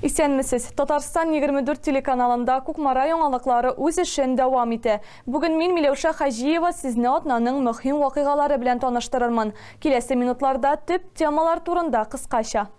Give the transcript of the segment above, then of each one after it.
Исәнмесез. Татарстан 24 телеканалында Кукмара яңалыклары үз эшен дәвам итә. Бүген мин Миләүшә Хаҗиева сезне атнаның мөһим вакыйгалары белән таныштырырмын. Киләсе минутларда төп темалар турында кыскача.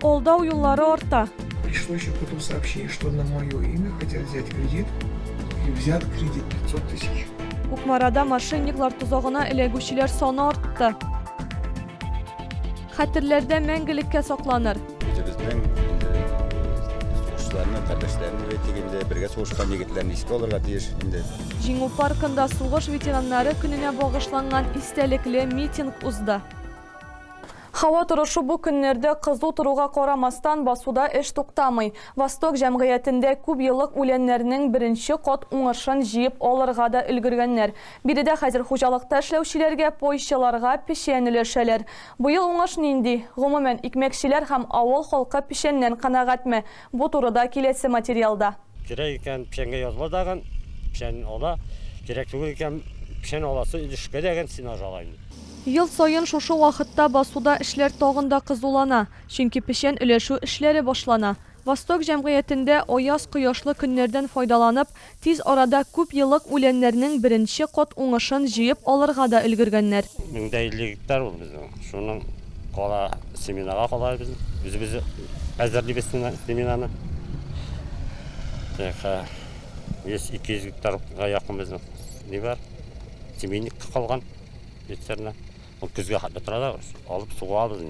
Колдау юллары артта. Пришло еще потом сообщение, что на мое имя хотят взять кредит. И взят кредит 500 тысяч. Кукмарада мошенниклар тозагына эләгүчеләр саны артты. Хәтерләрдә мәңгелеккә сакланыр. Үзебезнең сугышчыларны, кардәшләрне бит инде бергә сугышкан егетләрне искә алырга тиеш инде. Җиңү паркында сугыш ветераннары көненә багышланган истәлекле митинг узды. Һава торышы бу көннәрдә кызу торуга карамастан, басуда эш туктамый. Восток җәмгыятендә күп еллык үләннәрнең беренче кат уңышын җыеп алырга да өлгергәннәр. Биредә хәзер хуҗалыкта эшләүчеләргә, пойчыларга печән өләшәләр. Быел уңыш нинди? Гомумән, икмәкчеләр һәм авыл халкы печәннән канәгатьме? Бу турыда киләсе материалда. Кирәк икән, печәнгә языла дагын, печән ала, кирәк түгел икән, печән аласы өлешкә дәгән сенаж ала инде. Ел саен шушы вакытта басуда эшләр тагын да кызулана, чөнки печән өләшү эшләре башлана. Восток җәмгыятендә аяз, кояшлы көннәрдән файдаланып, Тиз арада күп еллык үләннәрнең беренче кат уңышын җыеп алырга да өлгергәннәр. Мең дә илле гектар ул безнең. Шуның кала семенага кала без үзебез әзерлибез семенаны. Тәха 100-200 гектарга якын безнең ни бар? Семенник калган. Бетерне. Ул көзгә хәтле тора да алып суга алып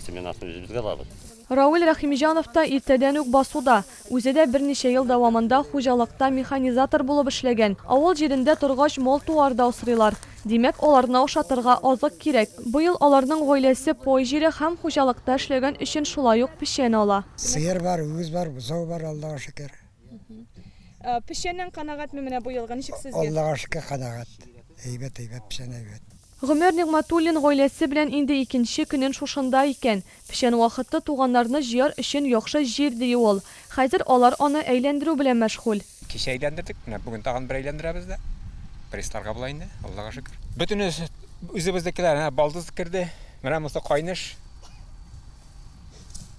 семенасын үзебезгә алабыз. Равил Рәхимҗанов та иртәдән үк басуда. Үзе дә берничә ел дәвамында хуҗалыкта механизатор булып эшләгән. Авыл җирендә торгач, мал-туар да асрыйлар. Димәк, аларны ашатырга азык кирәк. Быел аларның гаиләсе пай җире һәм хуҗалыкта эшләгән өчен шулай ук печән ала. Сыер бар, үгез бар, бозау бар, Аллага шөкер. Печәннән канәгатьме менә быелгы, ничек сезгә? Аллага шөкер, канәгать. Әйбәт, әйбәт, печән әйбәт. Гомәр Нигъмәтуллин гаиләсе белән инде икенче көнен шушында икән. Печән вакыты туганнарны җыяр өчен яхшы җир, ди ул. Хәзер алар аны әйләндерү белән мәшгуль. Кичә әйләндердек, менә бүген тагын бер әйләндерәбез дә. Прессларга була инде, Аллага шөкер. Бөтен үзебезнекеләр, әнә балдыз керде, менә монысы кайныш,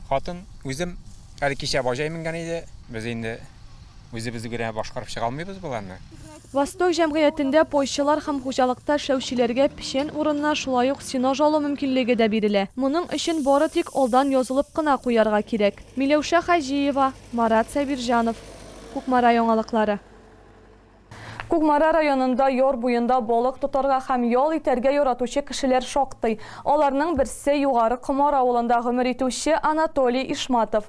хатын, үзем. Әле кичә баҗай менгән иде. Без инде үзебез генә башкарып чыга алмыйбыз боларны. Восток җәмгыятендә пойчылар һәм хуҗалыкта эшләүчеләргә печән урынына шулай ук сенаж алу мөмкинлеге дә бирелә. Моның өчен бары тик алдан язылып кына куярга кирәк. Миләүшә Хаҗиева, Марат Сабирҗанов, Кукмара яңалыклары. Кукмара районында яр буенда балык тотарга һәм ял итәргә яратучы кешеләр шактый. Аларның берсе, Югары Комар авылында гомер итүче Анатолий Ишматов.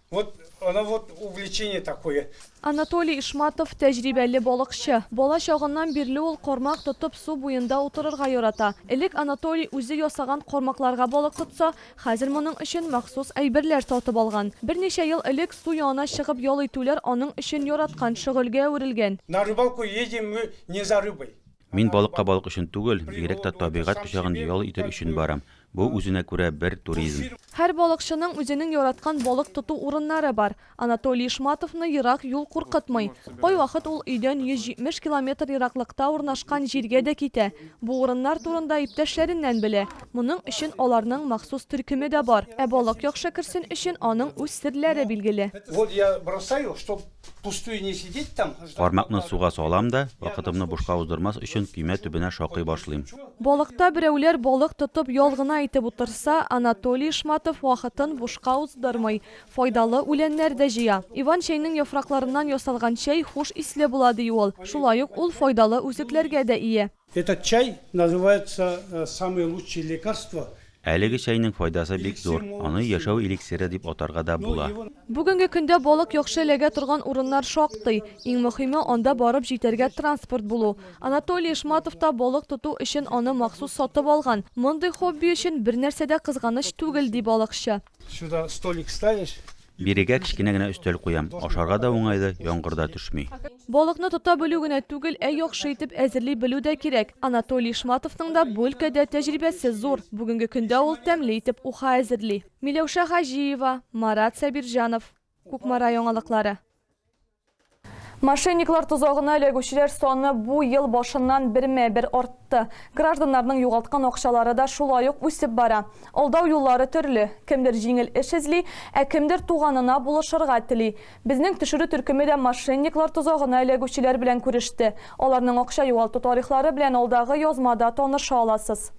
Вот она вот увлечение такое. Анатолий Ишматов, тәҗрибәле балыкчы. Бала чагыннан бирле ул кармак тотып су буенда утырырга ярата. Элек Анатолий үзе ясаган кармакларга балык тотса, хәзер моның өчен махсус әйберләр сатып алган. Берничә ел элек су янына чыгып ял итүләр аның өчен яраткан шөгыльгә әверелгән. На рыбалку едем мы не за рыбой. Мин балыкка балык өчен түгел, бигрәк тә табигать кочагын ял итер өчен барам. Бу үзенә күрә бер туризм. Һәр балыкчының үзенең яраткан балык тоту урыннары бар. Анатолий Ишматовны ерак юл куркытмый. Кайвакыт ул өйдән 170 километр ераклыкта урнашкан җиргә дә китә. Бу урыннар турында иптәшләреннән белә. Моның өчен аларның махсус төркеме дә бар. Ә балык яхшы керсен өчен аның үз серләре билгеле. Пустую не сидеть там. Кармакны суга салам да, вакытымны бушка уздырмас өчен көймә төбенә шакый башлыйм. Балыкта берәүләр балык тотып ял гына итеп утырса, Анатолий Ишматов вакытын бушка уздырмый, файдалы үләннәр дә җыя. Иван чәйнең яфракларыннан ясалган чәй хуш исле була, ди ул. Шулай ук ул файдалы үсекләргә дә ия. Этот чай называется самые лучшие лекарства. Әлеге чәйнең файдасы бик зур, аны яшәү эликсиры дип атарга да була. Бүгенге көндә балык яхшы эләгә торган урыннар шактый. Иң мөхиме, анда барып җитәргә транспорт булу. Анатолий Ишматов та балык тоту өчен аны махсус сатып алган. Мондый хобби өчен бернәрсә дә кызганыч түгел, ди балыкчы. Сюда столик ставишь. Бирегә кечкенә генә өстәл куям. Ашарга да уңайлы, яңгыр да төшми. Балыкны тота белү генә түгел, ә яхшы итеп әзерли белү дә кирәк. Анатолий Шматовның да бу өлкәдә тәҗрибәсе зур. Бүгенге көндә ул тәмле итеп уха әзерли. Миләүшә Хаҗиева, Марат Сабирҗанов. Кукмара яңалыклары. Мошенниклар тозагына эләгүчеләр саны бу ел башыннан бермә-бер артты. Гражданнарның югалткан акчалары да шулай ук үсеп бара. Алдау юллары төрле. Кемдер җиңел эш эзли, ә кемдер туганына булышырга тели. Безнең төшерү төркеме дә мошенниклар тозагына эләгүчеләр белән күреште. Аларның акча югалту тарихлары белән алдагы язмада таныша аласыз.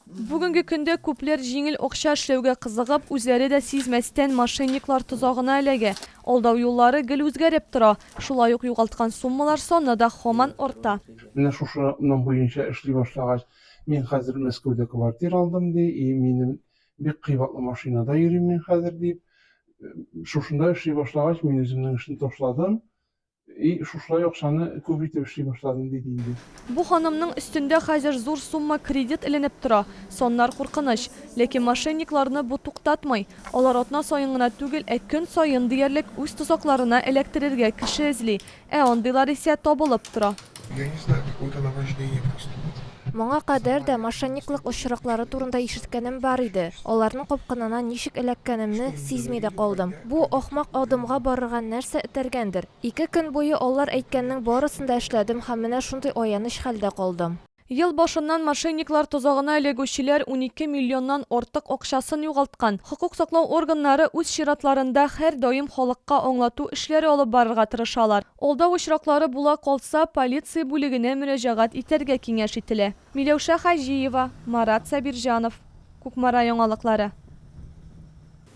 Бүгенге көндә күпләр җиңел акча эшләүгә кызыгып, үзләре дә сизмәстән мошенниклар тозагына эләгә. Алдау юллары гел үзгәреп тора, шулай ук югалткан суммалар саны да һаман арта. Менә шушы ном буенча эшли башлагач, мин хәзер Мәскәүдә квартира алдым, ди, и минем Бик кыйбатлы машинада йөрим мин хәзер, дип, шушында эшли башлагач, мин үземнең эшне ташладым и шушылай акчаны күп итеп эшли башладым, диде инде. Бу ханымның өстендә хәзер зур сумма кредит эленеп тора. Саннар куркыныч. Ләкин мошенникларны бу туктатмый. Алар атна саен гына түгел, ә көн саен диярлек үз тозакларына эләктерергә кеше эзли, Ә андыйлар исә табылып тора. Я не знаю, какое это наваждение просто вот. Моңа кадәр дә мошенниклык очраклары турында ишеткәнем бар иде. Аларның капкынына ничек эләккәнемне сизми дә калдым. Бу ахмак адымга барырга нәрсә этәргәндер? Ике көн буе алар әйткәннең барысын да эшләдем һәм менә шундый аяныч хәлдә калдым. Ел башыннан мошенниклар тозагына эләгүчеләр унике миллионнан артык акчасын югалткан. Хокук саклау органнары үз чиратларында һәрдаим халыкка аңлату эшләре алып барырга тырышалар. Алдау очраклары була калса, полиция бүлегенә мөрәҗәгать итәргә киңәш ителә. Миләүшә Хаҗиева, Марат Сабирҗанов, Кукмара яңалыклары.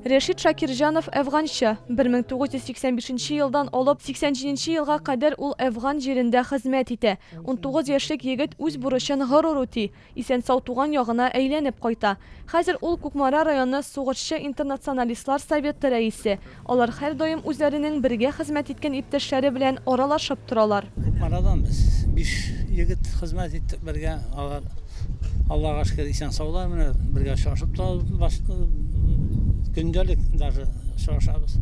Рәшит Шакирҗанов, әфганчы. 1985 елдан алып 87 елга кадәр ул әфган җирендә хезмәт итә. Унтугыз яшьлек егет үз бурычын горур үти, исән-сау туган ягына әйләнеп кайта. Хәзер ул Кукмара районы сугышчы-интернационалистлар советы рәисе. Алар һәрдаим үзләренең бергә хезмәт иткән иптәшләре белән аралашып торалар. Кукмарадан без биш егет хезмәт иттек бергә. Алар. Аллага шөкер исән саулар менә бергә очрашып та башка көндәлек даже очрашабыз.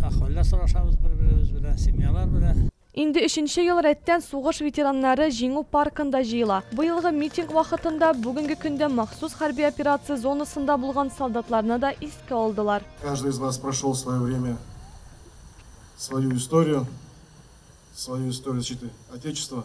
Ахваллар сорашабыз бер-беребез белән, семьялар белән. Инде өченче ел рәттән сугыш ветераннары Җиңү паркында җыела. Быелгы митинг вакытында бүгенге көндә махсус хәрби операция зонасында булган солдатларны да искә алдылар. Каждый из вас прошел свое время, свою историю, свою историю защиты Отечества.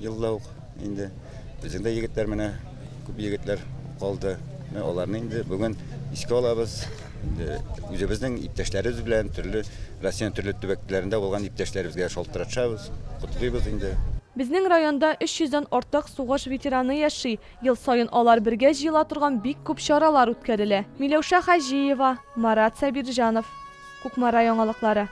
Елда ук инде безнең дә егетләр менә күп егетләр калды. Менә аларны инде бүген искә алабыз. Инде үзебезнең иптәшләребез белән төрле Россиянең төрле төбәкләрендә булган иптәшләребезгә шалтыратышабыз, котлыйбыз инде. Безнең районда 300 дән артык сугыш ветераны яши, ел саен алар бергә җыела торган бик күп чаралар үткәрелә. Миләүшә Хаҗиева, Марат Сабирҗанов, Кукмара яңалыклары.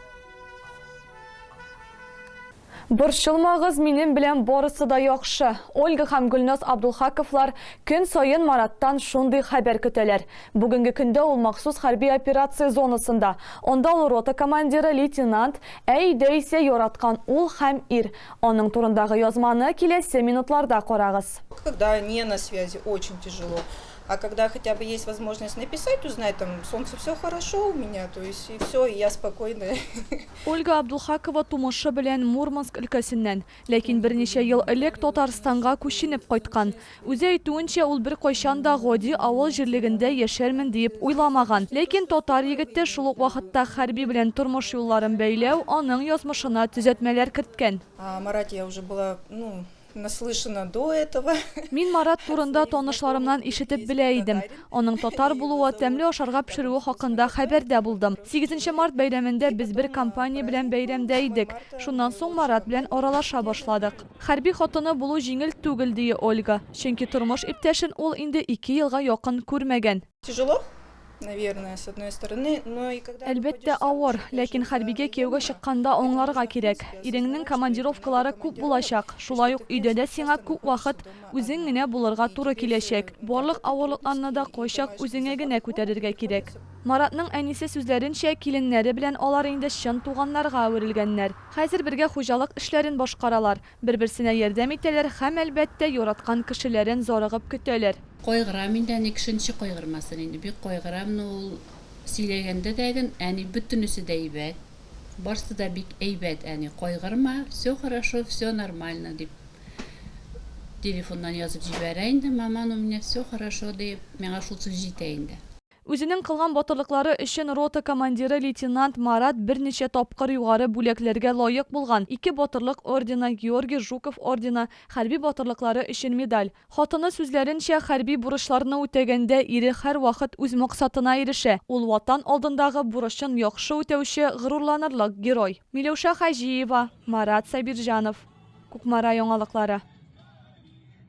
Борчылмагыз, минем белән барысы да яхшы. Ольга һәм Гөлназ Абдулхаковлар көн саен Мараттан шундый хәбәр көтәләр. Бүгенге көндә ул махсус хәрби операция зонасында. Анда ул рота командиры, лейтенант, ә өйдә исә яраткан ул һәм ир. Аның турындагы язманы киләсе минутларда карагыз. Когда не на связи, очень тяжело. А когда хотя бы есть возможность написать, узнать, там, солнце все хорошо у меня, то есть и все, и я спокойная. Ольга Абдулхакова тумышы белән Мурманск өлкәсеннән, ләкин берничә ел элек Татарстанга күченеп кайткан. Үзе әйтүенчә, ул беркайчан да гади авыл җирлегендә яшәрмен диеп уйламаган. Ләкин татар егете шул ук вакытта хәрби белән тормыш юлларын бәйләү аның язмышына төзәтмәләр керткән. А Маратия уже была, ну, Наслышана до этого. Мин Марат турында танышларымнан ишетеп белә идем. Аның татар булуы, тәмле ашарга пешерүе хакында хәбәрдә булдым. Сигезенче март бәйрәмендә без бер компания белән бәйрәмдә идек. Шуннан соң Марат белән аралаша башладык. Хәрби хатыны булу җиңел түгел, ди Ольга. Чөнки тормыш иптәшен ул инде ике елга якын күрмәгән. Тяжело, наверное, с одной стороны, но и когда... Әлбәттә авыр, ләкин хәрбигә кияүгә чыкканда аңларга кирәк. Иреңнең командировкалары күп булачак, шулай ук өйдә дә сиңа күп вакыт үзең генә булырга туры киләчәк. Барлык авырлыкларны да кайчак үзеңә генә күтәрергә кирәк. Маратның әнисе сүзләренчә, киленнәре белән алар инде чын туганнарга әверелгәннәр. Хәзер бергә хуҗалык эшләрен башкаралар. Бер-берсенә ярдәм итәләр хәм, әлбәттә, яраткан кешеләрен зарыгып көтәләр. Кайгырам инде, әни кешенче кайгырмасын инде, бик кайгырам, но ул сөйләгәндә дә гөн, әни бөтенесе дә әйбәт, барсы да бик әйбәт, әни, кайгырма, все хорошо, все нормально, дип телефоннан язып җибәрә инде, маман у меня все хорошо, диеп, миңа шул сүз җитә инде. Үзенең кылган батырлыклары өчен рота командиры лейтенант Марат берничә тапкыр югары бүләкләргә лаек булган, ике Батырлык ордены, Георгий Жуков ордены, хәрби батырлыклары өчен медаль. Хатыны сүзләренчә, хәрби бурычларны үтәгәндә ире һәрвакыт үз максатына ирешә, ул Ватан алдындагы бурычын яхшы үтәүче, горурланырлык герой. Миләүшә Хаҗиева, Марат Сабирҗанов. Кукмара яңалыклары.